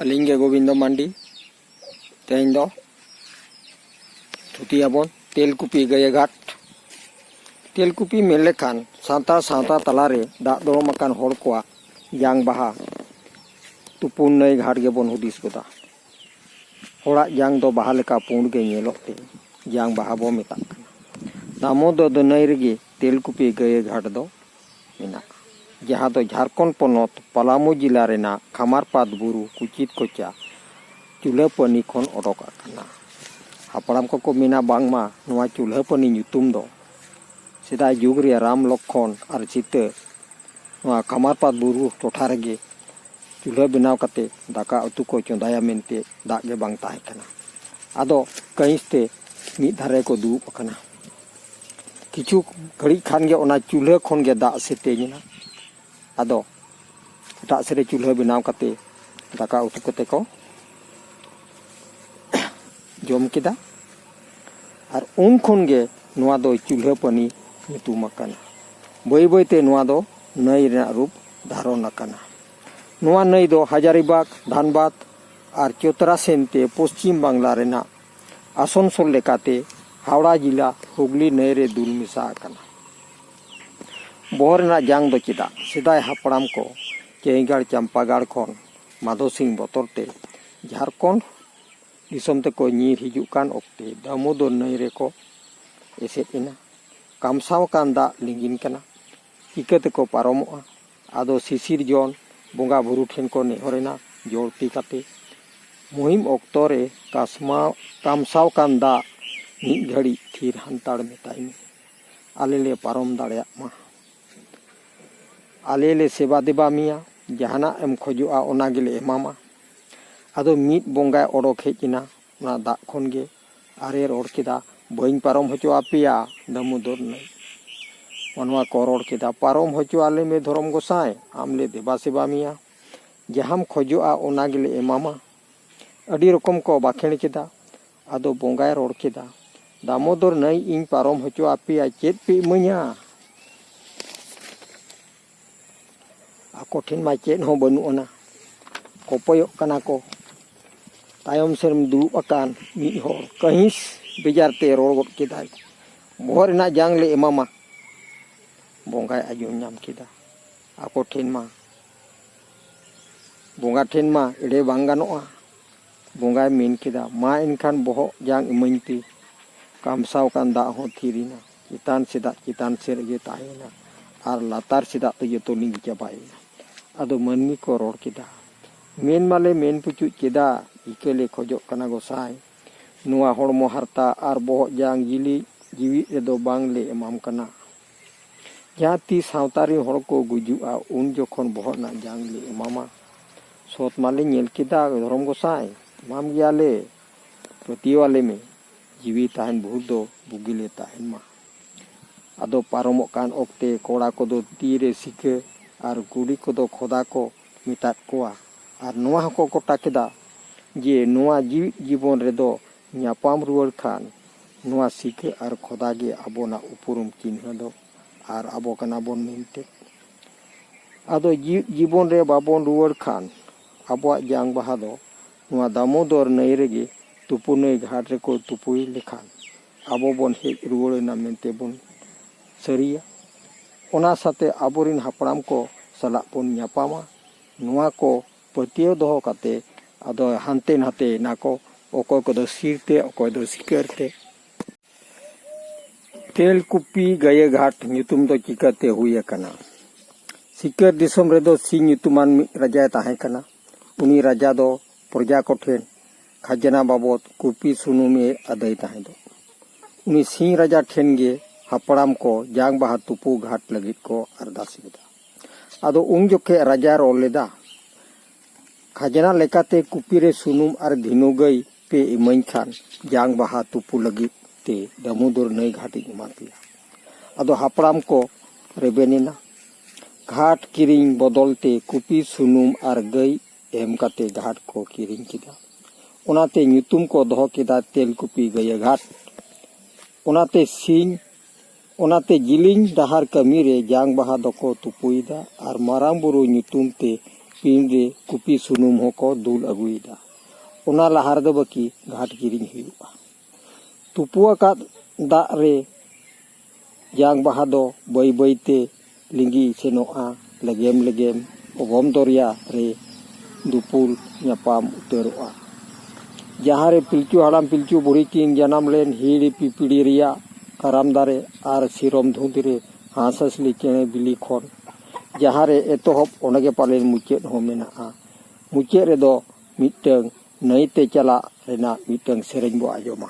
ᱟᱹᱞᱤᱧ ᱜᱮ ᱜᱳᱵᱤᱱᱫᱚ ᱢᱟᱱᱰᱤ ᱛᱮᱦᱮᱧ ᱫᱚ ᱛᱷᱩᱛᱤᱭᱟᱵᱚᱱ ᱛᱮᱞᱠᱩᱯᱤ ᱜᱟᱹᱭᱟᱹᱜᱷᱟᱴ ᱛᱮᱞᱠᱩᱯᱤ ᱢᱮᱱ ᱞᱮᱠᱷᱟᱱ ᱥᱟᱶᱛᱟ ᱥᱟᱶᱛᱟ ᱛᱟᱞᱟᱨᱮ ᱫᱟᱜ ᱫᱚᱲᱚᱢ ᱟᱠᱟᱱ ᱦᱚᱲ ᱠᱚᱣᱟᱜ ᱡᱟᱝ ᱵᱟᱦᱟ ᱛᱩᱯᱩᱱ ᱱᱟᱹᱭ ᱜᱷᱟᱴ ᱜᱮᱵᱚᱱ ᱦᱩᱫᱤᱥ ᱜᱚᱫᱟ ᱦᱚᱲᱟᱜ ᱡᱟᱝ ᱫᱚ ᱵᱟᱦᱟ ᱞᱮᱠᱟ ᱯᱩᱸᱰ ᱜᱮ ᱧᱮᱞᱚᱜ ᱛᱮ ᱡᱟᱝ ᱵᱟᱦᱟ ᱵᱚᱱ ᱢᱮᱛᱟᱜ ᱠᱟᱱᱟ ᱫᱟᱢᱳᱫᱚᱨ ᱱᱟᱹᱭ ᱨᱮᱜᱮ ᱛᱮᱞᱠᱩᱯᱤ ᱜᱟᱹᱭᱟᱹᱜᱷᱟᱴ ᱫᱚ ᱢᱮᱱᱟᱜᱼᱟ, ᱡᱟᱦᱟᱸ ᱫᱚ ᱡᱷᱟᱨᱠᱷᱚᱸᱰ ᱯᱚᱱᱚᱛ ᱯᱟᱞᱟᱢᱩ ᱡᱤᱞᱟ ᱨᱮᱱᱟᱜ ᱠᱷᱟᱢᱟᱨᱯᱟᱛ ᱵᱩᱨᱩ ᱠᱩᱪᱤᱛ ᱠᱚᱪᱟ ᱪᱩᱞᱦᱟᱹᱯᱟᱹᱱᱤ ᱠᱷᱚᱱ ᱚᱰᱚᱠ ᱟᱠᱟᱱᱟ᱾ ᱦᱟᱯᱲᱟᱢ ᱠᱚᱠᱚ ᱢᱮᱱᱟ ᱵᱟᱝᱢᱟ ᱱᱚᱣᱟ ᱪᱩᱞᱦᱟᱹᱯᱟᱹᱱᱤ ᱧᱩᱛᱩᱢ ᱫᱚ ᱥᱮᱫᱟᱭ ᱡᱩᱜᱽ ᱨᱮ ᱨᱟᱢ, ᱞᱚᱠᱠᱷᱚᱱ ᱟᱨ ᱥᱤᱛᱟᱹ ᱱᱚᱣᱟ ᱠᱷᱟᱢᱟᱨᱯᱟᱛ ᱵᱩᱨᱩ ᱴᱚᱴᱷᱟ ᱨᱮᱜᱮ ᱪᱩᱞᱦᱟᱹ ᱵᱮᱱᱟᱣ ᱠᱟᱛᱮ ᱫᱟᱠᱟ ᱩᱛᱩ ᱠᱚ ᱪᱚᱸᱫᱟᱭᱟ ᱢᱮᱱᱛᱮ ᱫᱟᱜ ᱜᱮ ᱵᱟᱝ ᱛᱟᱦᱮᱸ ᱠᱟᱱᱟ ᱟᱫᱚ ᱠᱟᱺᱦᱤᱥ ᱛᱮ ᱢᱤᱫ ᱫᱷᱟᱨᱮ ᱠᱚ ᱫᱩᱲᱩᱵ ᱟᱠᱟᱱᱟ ᱠᱤᱪᱷᱩ ᱜᱷᱟᱹᱲᱤᱡ ᱠᱷᱟᱱ ᱜᱮ ᱚᱱᱟ ᱪᱩᱞᱦᱟᱹ ᱠᱷᱚᱱ ᱜᱮ ᱫᱟᱜ ᱥᱮᱛᱮᱧ ᱮᱱᱟ ᱟᱫᱚ ᱮᱴᱟᱜ ᱥᱮᱫ ᱨᱮ ᱪᱩᱞᱦᱟᱹ ᱵᱮᱱᱟᱣ ᱠᱟᱛᱮ ᱫᱟᱠᱟ ᱩᱛᱩ ᱠᱟᱛᱮ ᱠᱚ ᱡᱚᱢ ᱠᱮᱫᱟ ᱟᱨ ᱩᱱ ᱠᱷᱚᱱ ᱜᱮ ᱱᱚᱣᱟ ᱫᱚ ᱪᱩᱞᱦᱟᱹ ᱯᱟᱹᱱᱤ ᱧᱩᱛᱩᱢ ᱟᱠᱟᱱᱟ ᱵᱟᱹᱭ ᱵᱟᱹᱭ ᱛᱮ ᱱᱚᱣᱟ ᱫᱚ ᱱᱟᱹᱭ ᱨᱮᱱᱟᱜ ᱨᱩᱯ ᱫᱷᱟᱨᱚᱱ ᱟᱠᱟᱱᱟ᱾ ᱱᱚᱣᱟ ᱱᱟᱹᱭ ᱫᱚ ᱦᱟᱡᱟᱨᱤᱵᱟᱜᱽ, ᱫᱷᱟᱱᱵᱟᱫᱽ ᱟᱨ ᱪᱚᱛᱨᱟ ᱥᱮᱱ ᱛᱮ ᱯᱚᱪᱷᱤᱢ ᱵᱟᱝᱞᱟ ᱨᱮᱱᱟᱜ ᱟᱥᱚᱱᱥᱳᱞ ᱞᱮᱠᱟᱛᱮ ᱦᱟᱣᱲᱟ ᱡᱤᱞᱟ ᱦᱩᱜᱽᱞᱤ ᱱᱟᱹᱭ ᱨᱮ ᱫᱩᱞ ᱢᱮᱥᱟ ᱟᱠᱟᱱᱟ᱾ ᱵᱚᱦᱚᱜ ᱨᱮᱱᱟᱜ ᱡᱟᱝ ᱫᱚ ᱪᱮᱫᱟᱜ? ᱥᱮᱫᱟᱭ ᱦᱟᱯᱲᱟᱢ ᱠᱚ ᱪᱟᱹᱭᱜᱟᱲ ᱪᱟᱢᱯᱟᱜᱟᱲ ᱠᱷᱚᱱ ᱢᱟᱫᱷᱳ ᱥᱤᱝ ᱵᱚᱛᱚᱨ ᱛᱮ ᱡᱷᱟᱨᱠᱷᱚᱸᱰ ᱫᱤᱥᱚᱢ ᱛᱮᱠᱚ ᱧᱤᱨ ᱦᱤᱡᱩᱜ ᱠᱟᱱ ᱚᱠᱛᱮ ᱫᱟᱢᱳᱫᱚᱨ ᱱᱟᱹᱭ ᱨᱮᱠᱚ ᱮᱥᱮᱫ ᱮᱱᱟ᱾ ᱠᱟᱢᱥᱟᱣ ᱟᱠᱟᱱ ᱫᱟᱜ ᱞᱤᱸᱜᱤᱱ ᱠᱟᱱᱟ᱾ ᱪᱤᱠᱟᱹ ᱛᱮᱠᱚ ᱯᱟᱨᱚᱢᱚᱜᱼᱟ ᱟᱫᱚ ᱥᱤᱥᱤᱨᱡᱚᱱ ᱵᱚᱸᱜᱟ ᱵᱩᱨᱩ ᱴᱷᱮᱱ ᱠᱚ ᱱᱮᱦᱚᱨ ᱮᱱᱟ ᱡᱚᱲ ᱛᱤ ᱠᱟᱛᱮ ᱢᱩᱦᱤᱢ ᱚᱠᱛᱚ ᱨᱮ ᱠᱟᱥᱢᱟᱣ ᱠᱟᱢᱥᱟᱣ ᱟᱠᱟᱱ ᱫᱟᱜ ᱢᱤᱫ ᱜᱷᱟᱹᱲᱤᱡ ᱛᱷᱤᱨ ᱦᱟᱱᱛᱟᱲ ᱢᱮᱛᱟᱭ ᱢᱮ ᱟᱞᱮ ᱞᱮ ᱯᱟᱨᱚᱢ ᱫᱟᱲᱮᱭᱟᱜ ᱢᱟ ᱟᱞᱮ ᱞᱮ ᱥᱮᱵᱟ ᱫᱮᱵᱟ ᱢᱮᱭᱟ ᱡᱟᱦᱟᱱᱟᱜ ᱮᱢ ᱠᱷᱚᱡᱚᱜᱼᱟ ᱚᱱᱟ ᱜᱮᱞᱮ ᱮᱢᱟᱢᱟ ᱟᱫᱚ ᱢᱤᱫ ᱵᱚᱸᱜᱟᱭ ᱚᱰᱚᱠ ᱦᱮᱡ ᱮᱱᱟ ᱚᱱᱟ ᱫᱟᱜ ᱠᱷᱚᱱ ᱜᱮ ᱟᱨᱮ ᱨᱚᱲ ᱠᱮᱫᱟ ᱵᱟᱹᱧ ᱯᱟᱨᱚᱢ ᱦᱚᱪᱚ ᱟᱯᱮᱭᱟ ᱫᱟᱢᱳᱫᱚᱨ ᱱᱟᱹᱭ ᱚᱱᱟ ᱠᱚ ᱨᱚᱲ ᱠᱮᱫᱟ ᱯᱟᱨᱚᱢ ᱦᱚᱪᱚ ᱟᱞᱮ ᱢᱮ ᱫᱷᱚᱨᱚᱢ ᱜᱚᱸᱥᱟᱭ ᱟᱢ ᱞᱮ ᱫᱮᱵᱟ ᱥᱮᱵᱟ ᱢᱮᱭᱟ ᱡᱟᱦᱟᱸᱢ ᱠᱷᱚᱡᱚᱜᱼᱟ ᱚᱱᱟ ᱜᱮᱞᱮ ᱮᱢᱟᱢᱟ ᱟᱹᱰᱤ ᱨᱚᱠᱚᱢ ᱠᱚ ᱵᱟᱸᱠᱷᱮᱲ ᱠᱮᱫᱟ ᱟᱫᱚ ᱵᱚᱸᱜᱟᱭ ᱨᱚᱲ ᱠᱮᱫᱟ ᱫᱟᱢᱳᱫᱚᱨ ᱱᱟᱹᱭ ᱤᱧ ᱯᱟᱨᱚᱢ ᱦᱚᱪᱚ ᱟᱯᱮᱭᱟ ᱪᱮᱫ ᱯᱮ ᱤᱢᱟᱹᱧᱟ ᱟᱠᱚ ᱴᱷᱮᱱ ᱢᱟ ᱪᱮᱫ ᱦᱚᱸ ᱵᱟᱹᱱᱩᱜ ᱟᱱᱟ ᱠᱚᱯᱚᱭᱚᱜ ᱠᱟᱱᱟ ᱠᱚ ᱛᱟᱭᱚᱢ ᱥᱮᱱ ᱫᱩᱲᱩᱵ ᱟᱠᱟᱱ ᱢᱤᱫ ᱦᱚᱲ ᱠᱟᱹᱦᱤᱥ ᱵᱮᱡᱟᱨ ᱛᱮ ᱨᱚᱲ ᱜᱚᱫ ᱠᱮᱫᱟᱭ ᱵᱚᱦᱚᱜ ᱨᱮᱱᱟᱜ ᱡᱟᱝ ᱞᱮ ᱮᱢᱟᱢᱟ ᱵᱚᱸᱜᱟᱭ ᱟᱸᱡᱚᱢ ᱧᱟᱢ ᱠᱮᱫᱟ ᱟᱠᱚ ᱴᱷᱮᱱ ᱢᱟ ᱵᱚᱸᱜᱟ ᱴᱷᱮᱱ ᱢᱟ ᱮᱲᱮ ᱵᱟᱝ ᱜᱟᱱᱚᱜᱼᱟ ᱵᱚᱸᱜᱟᱭ ᱢᱮᱱ ᱠᱮᱫᱟ ᱢᱟ ᱮᱱᱠᱷᱟᱱ ᱵᱚᱦᱚᱜ ᱡᱟᱝ ᱤᱢᱟᱹᱧ ᱯᱮ ᱠᱟᱢᱥᱟᱣ ᱟᱠᱟᱱ ᱫᱟᱜ ᱦᱚᱸ ᱛᱷᱤᱨ ᱮᱱᱟ ᱪᱮᱛᱟᱱ ᱥᱮᱫᱟᱜ ᱪᱮᱛᱟᱱ ᱥᱮᱫ ᱨᱮᱜᱮ ᱛᱟᱦᱮᱸᱭᱮᱱᱟ ᱟᱨ ᱞᱟᱛᱟᱨ ᱥᱮᱫᱟᱜ ᱫᱚ ᱡᱚᱛᱚ ᱞᱤᱸᱜᱤ ᱪᱟᱵᱟᱭᱮᱱᱟ ᱟᱫᱚ ᱢᱟᱹᱱᱢᱤ ᱠᱚ ᱨᱚᱲ ᱠᱮᱫᱟ ᱢᱮᱱ ᱢᱟᱞᱮ ᱢᱮᱱ ᱯᱩᱪᱩᱡ ᱠᱮᱫᱟ ᱤᱠᱟᱹ ᱞᱮ ᱠᱷᱚᱡᱚᱜ ᱠᱟᱱᱟ ᱜᱚᱸᱥᱟᱭ ᱱᱚᱣᱟ ᱦᱚᱲᱢᱚ ᱦᱟᱨᱛᱟ ᱟᱨ ᱵᱚᱦᱚᱜ ᱡᱟᱝ ᱡᱤᱞᱤᱡ ᱡᱤᱣᱤ ᱨᱮᱫᱚ ᱵᱟᱝ ᱞᱮ ᱮᱢᱟᱢ ᱠᱟᱱᱟ ᱡᱟᱦᱟᱸ ᱛᱤ ᱥᱟᱶᱛᱟ ᱨᱮᱱ ᱦᱚᱲ ᱠᱚ ᱜᱩᱡᱩᱜᱼᱟ ᱩᱱ ᱡᱚᱠᱷᱚᱱ ᱵᱚᱦᱚᱜ ᱨᱮᱱᱟᱜ ᱡᱟᱝ ᱞᱮ ᱮᱢᱟᱢᱟ ᱥᱚᱛ ᱢᱟᱞᱮ ᱧᱮᱞ ᱠᱮᱫᱟ ᱫᱷᱚᱨᱚᱢ ᱜᱚᱸᱥᱟᱭ ᱮᱢᱟᱢ ᱜᱮᱭᱟᱞᱮ ᱯᱟᱹᱛᱭᱟᱹᱣᱟᱞᱮ ᱢᱮ ᱡᱤᱣᱤ ᱛᱟᱦᱮᱱ ᱵᱷᱩᱨ ᱫᱚ ᱵᱩᱜᱤ ᱞᱮ ᱛᱟᱦᱮᱱ ᱢᱟ ᱟᱫᱚ ᱯᱟᱨᱚᱢᱚᱜ ᱠᱟᱱ ᱚᱠᱛᱮ ᱠᱚᱲᱟ ᱠᱚᱫᱚ ᱛᱤ ᱨᱮ ᱥᱤᱠᱟᱹ ᱟᱨ ᱠᱩᱲᱤ ᱠᱚᱫᱚ ᱠᱷᱚᱫᱟ ᱠᱚ ᱢᱮᱛᱟᱫ ᱠᱚᱣᱟ ᱟᱨ ᱱᱚᱣᱟ ᱦᱚᱸᱠᱚ ᱜᱚᱴᱟ ᱠᱮᱫᱟ ᱡᱮ ᱱᱚᱣᱟ ᱡᱤᱣᱤᱫ ᱡᱤᱵᱚᱱ ᱨᱮᱫᱚ ᱧᱟᱯᱟᱢ ᱨᱩᱣᱟᱹᱲ ᱠᱷᱟᱱ ᱱᱚᱣᱟ ᱥᱤᱠᱟᱹ ᱟᱨ ᱠᱷᱚᱫᱟ ᱜᱮ ᱟᱵᱚᱱᱟᱜ ᱩᱯᱨᱩᱢ ᱪᱤᱱᱦᱟᱹ ᱫᱚ ᱟᱨ ᱟᱵᱚ ᱠᱟᱱᱟ ᱵᱚᱱ ᱢᱮᱱᱛᱮ ᱟᱫᱚ ᱡᱤᱣᱤᱫ ᱡᱤᱵᱚᱱ ᱨᱮ ᱵᱟᱵᱚᱱ ᱨᱩᱣᱟᱹᱲ ᱠᱷᱟᱱ ᱟᱵᱚᱣᱟᱜ ᱡᱟᱝ ᱵᱟᱦᱟ ᱫᱚ ᱱᱚᱣᱟ ᱫᱟᱢᱳᱫᱚᱨ ᱱᱟᱹᱭ ᱨᱮᱜᱮ ᱛᱩᱯᱩ ᱱᱟᱹᱭ ᱜᱷᱟᱴ ᱨᱮᱠᱚ ᱛᱩᱯᱩᱭ ᱞᱮᱠᱷᱟᱱ ᱟᱵᱚ ᱵᱚᱱ ᱦᱮᱡ ᱨᱩᱣᱟᱹᱲ ᱮᱱᱟ ᱢᱮᱱᱛᱮ ᱵᱚᱱ ᱥᱟᱹᱨᱤᱭᱟ ᱚᱱᱟ ᱥᱟᱛᱮ ᱟᱵᱚᱨᱮᱱ ᱦᱟᱯᱲᱟᱢ ᱠᱚ ᱥᱟᱞᱟᱜ ᱵᱚᱱ ᱧᱟᱯᱟᱢᱟ ᱱᱚᱣᱟ ᱠᱚ ᱯᱟᱹᱛᱭᱟᱹᱣ ᱫᱚᱦᱚ ᱠᱟᱛᱮ ᱟᱫᱚ ᱦᱟᱱᱛᱮ ᱱᱟᱛᱮᱭᱮᱱᱟ ᱠᱚ ᱚᱠᱚᱭ ᱠᱚᱫᱚ ᱥᱤᱨ ᱛᱮ ᱚᱠᱚᱭ ᱫᱚ ᱥᱤᱠᱟᱹᱨ ᱛᱮ ᱛᱮᱞᱠᱩᱯᱤ ᱜᱟᱹᱭᱟᱹ ᱜᱷᱟᱴ ᱧᱩᱛᱩᱢ ᱫᱚ ᱪᱤᱠᱟᱹᱛᱮ ᱦᱩᱭ ᱟᱠᱟᱱᱟ ᱥᱤᱠᱟᱹᱨ ᱫᱤᱥᱚᱢ ᱨᱮᱫᱚ ᱥᱤ ᱧᱩᱛᱩᱢᱟᱱ ᱢᱤᱫ ᱨᱟᱡᱟᱭ ᱛᱟᱦᱮᱸ ᱠᱟᱱᱟ ᱩᱱᱤ ᱨᱟᱡᱟ ᱫᱚ ᱯᱨᱚᱡᱟ ᱠᱚᱴᱷᱮᱱ ᱠᱷᱟᱡᱽᱱᱟ ᱵᱟᱵᱚᱫ ᱠᱩᱯᱤ ᱥᱩᱱᱩᱢ ᱮ ᱟᱹᱫᱟᱹᱭ ᱛᱟᱦᱮᱸ ᱫᱚ ᱩᱱᱤ ᱥᱤᱧ ᱨᱟᱡᱟ ᱴᱷᱮᱱ ᱜᱮ ᱦᱟᱯᱲᱟᱢ ᱠᱚ ᱡᱟᱝ ᱵᱟᱦᱟ ᱛᱩᱯᱩ ᱜᱷᱟᱴ ᱞᱟᱹᱜᱤᱫ ᱠᱚ ᱟᱨᱫᱟᱥ ᱞᱮᱫᱟ ᱟᱫᱚ ᱩᱱ ᱡᱚᱠᱷᱮᱡ ᱨᱟᱡᱟ ᱨᱚᱲ ᱞᱮᱫᱟ ᱠᱷᱟᱡᱽᱱᱟ ᱞᱮᱠᱟᱛᱮ ᱠᱩᱯᱤ ᱨᱮ ᱥᱩᱱᱩᱢ ᱟᱨ ᱫᱷᱤᱱᱩ ᱜᱟᱹᱭ ᱯᱮ ᱤᱢᱟᱹᱧ ᱠᱷᱟᱱ ᱡᱟᱝ ᱵᱟᱦᱟ ᱛᱩᱯᱩ ᱞᱟᱹᱜᱤᱫ ᱛᱮ ᱫᱟᱢᱳᱫᱚᱨ ᱱᱟᱹᱭ ᱜᱷᱟᱴ ᱤᱧ ᱮᱢᱟ ᱯᱮᱭᱟ ᱟᱫᱚ ᱦᱟᱯᱲᱟᱢ ᱠᱚ ᱨᱮᱵᱮᱱ ᱮᱱᱟ ᱜᱷᱟᱴ ᱠᱤᱨᱤᱧ ᱵᱚᱫᱚᱞ ᱛᱮ ᱠᱩᱯᱤ ᱥᱩᱱᱩᱢ ᱟᱨ ᱜᱟᱹᱭ ᱮᱢ ᱠᱟᱛᱮ ᱜᱷᱟᱴ ᱠᱚ ᱠᱤᱨᱤᱧ ᱠᱮᱫᱟ ᱚᱱᱟᱛᱮ ᱧᱩᱛᱩᱢ ᱠᱚ ᱫᱚᱦᱚ ᱠᱮᱫᱟ ᱛᱮᱞᱠᱩᱯᱤ ᱜᱟᱹᱭᱟᱹ ᱜᱷᱟᱴ ᱚᱱᱟᱛᱮ ᱥᱤᱧ ᱚᱱᱟᱛᱮ ᱡᱤᱞᱤᱧ ᱰᱟᱦᱟᱨ ᱠᱟᱹᱢᱤ ᱨᱮ ᱡᱟᱝ ᱵᱟᱦᱟ ᱫᱚᱠᱚ ᱛᱩᱯᱩᱭᱮᱫᱟ ᱟᱨ ᱢᱟᱨᱟᱝ ᱵᱩᱨᱩ ᱧᱩᱛᱩᱢ ᱛᱮ ᱯᱤᱸᱰ ᱨᱮ ᱠᱩᱯᱤ ᱥᱩᱱᱩᱢ ᱦᱚᱸᱠᱚ ᱫᱩᱞ ᱟᱹᱜᱩᱭᱮᱫᱟ ᱚᱱᱟ ᱞᱟᱦᱟ ᱨᱮᱫᱚ ᱵᱟᱹᱠᱤ ᱜᱷᱟᱴ ᱠᱤᱨᱤᱧ ᱦᱩᱭᱩᱜᱼᱟ ᱛᱩᱯᱩ ᱟᱠᱟᱫ ᱫᱟᱜ ᱨᱮ ᱡᱟᱝ ᱵᱟᱦᱟ ᱫᱚ ᱵᱟᱹᱭ ᱵᱟᱹᱭ ᱛᱮ ᱞᱤᱸᱜᱤ ᱥᱮᱱᱚᱜᱼᱟ ᱞᱮᱜᱮᱢ ᱞᱮᱜᱮᱢ ᱚᱜᱚᱢ ᱫᱚᱨᱭᱟ ᱨᱮ ᱫᱩᱯᱩᱞ ᱧᱟᱯᱟᱢ ᱩᱛᱟᱹᱨᱚᱜᱼᱟ ᱡᱟᱦᱟᱸ ᱨᱮ ᱯᱤᱞᱪᱩ ᱦᱟᱲᱟᱢ ᱯᱤᱞᱪᱩ ᱵᱩᱲᱦᱤ ᱠᱤᱱ ᱡᱟᱱᱟᱢ ᱞᱮᱱ ᱦᱤᱦᱤᱲᱤ ᱯᱤᱯᱤᱲᱤ ᱨᱮᱭᱟᱜ ᱠᱟᱨᱟᱢ ᱫᱟᱨᱮ ᱟᱨ ᱥᱤᱨᱚᱢ ᱫᱷᱩᱸᱫᱽ ᱨᱮ ᱦᱟᱸᱥᱼᱦᱟᱸᱥᱞᱤ ᱪᱮᱬᱮ ᱵᱤᱞᱤ ᱠᱷᱚᱱ ᱡᱟᱦᱟᱸ ᱨᱮ ᱮᱛᱚᱦᱚᱵ ᱚᱸᱰᱮ ᱜᱮ ᱯᱟᱞᱮᱱ ᱢᱩᱪᱟᱹᱫ ᱦᱚᱸ ᱢᱮᱱᱟᱜᱼᱟ ᱢᱩᱪᱟᱹᱫ ᱨᱮᱫᱚ ᱢᱤᱫᱴᱟᱹᱝ ᱱᱟᱹᱭᱛᱮ ᱪᱟᱞᱟᱜ ᱨᱮᱱᱟᱜ ᱢᱤᱫᱴᱟᱹᱝ ᱥᱮᱨᱮᱧ ᱵᱚ ᱟᱸᱡᱚᱢᱟ